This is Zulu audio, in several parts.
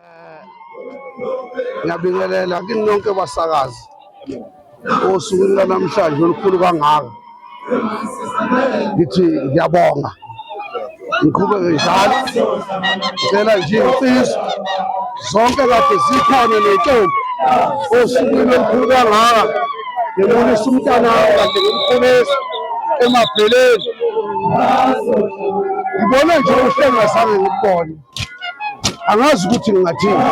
Eh, ngiyabingelela kini nonke basakazi osukwini lanamhlanje olukhulu kangaka ngithi ngiyabonga ngiqhubeke njalo ngicela nje insizwa zonke kade zikhona nentombi osukwini olukhulu kangaka ngibonisa umntana kade ngimkhulisa emabheleni ngibone nje uhlengazange ngikubone angazi ukuthi ngingathini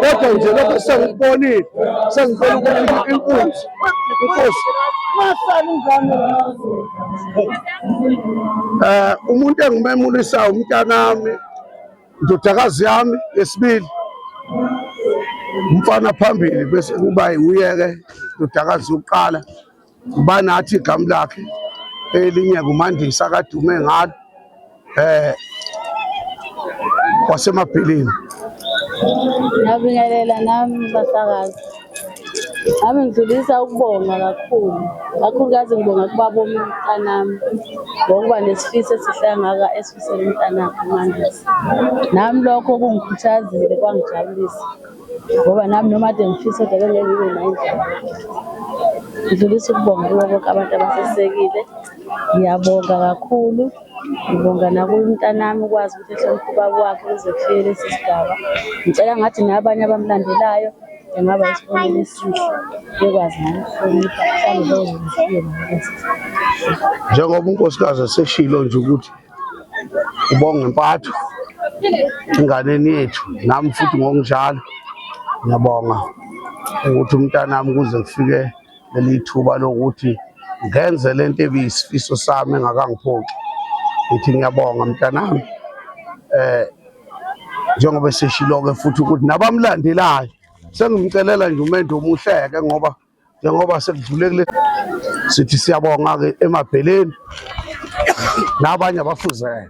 kodwa nje lokho sengikubonile sengibona ukuthi inkunzi inkosi eh umuntu engimemulisa umntanami indodakazi yami yesibili umfana phambili bese kuba uyeke indodakazi yokuqala ubani athi igama lakhe elinye ngumandisa kadume ngalo eh wasemabhilini ngabingelela nami basakazi nami ngidlulisa ukubonga kakhulu kakhulukazi ngibonga kubaba omntanami ngokuba nesifiso esihle angaka esifisela umntanakhe umandisa nami lokho kungikhuthazile kwangijabulisa ngoba nami noma kade ngifisa kodwa bengeke ngibe nayo indlela. Ngidlulisa ukubonga kubo bonke abantu abasesekile. Ngiyabonga kakhulu, ngibonga nakuye umntanami ukwazi ukuthi ehloniphe ubaba wakhe ukuze kufike lesi sigaba. Ngicela ngathi nabanye abamulandelayo engaba isibonelo esihle bekwazi nabo ukuhlonipha mhlawumbe bezoze befike nabo kulesi sigaba. Njengoba unkosikazi eseshilo nje ukuthi ubonge impatho enganeni yethu nami futhi ngokunjalo ngiyabonga ukuthi umntanami kuze kufike leli thuba lokuthi ngenze le nto ebiyisifiso sami engakangiphoxi ngithi ngiyabonga mntanami eh njengoba seshilo-ke futhi ukuthi nabamlandelayo sengimcelela nje umendo omuhle-ke ngoba njengoba sekudlule kule sithi siyabonga-ke emabheleni nabanye abafuzele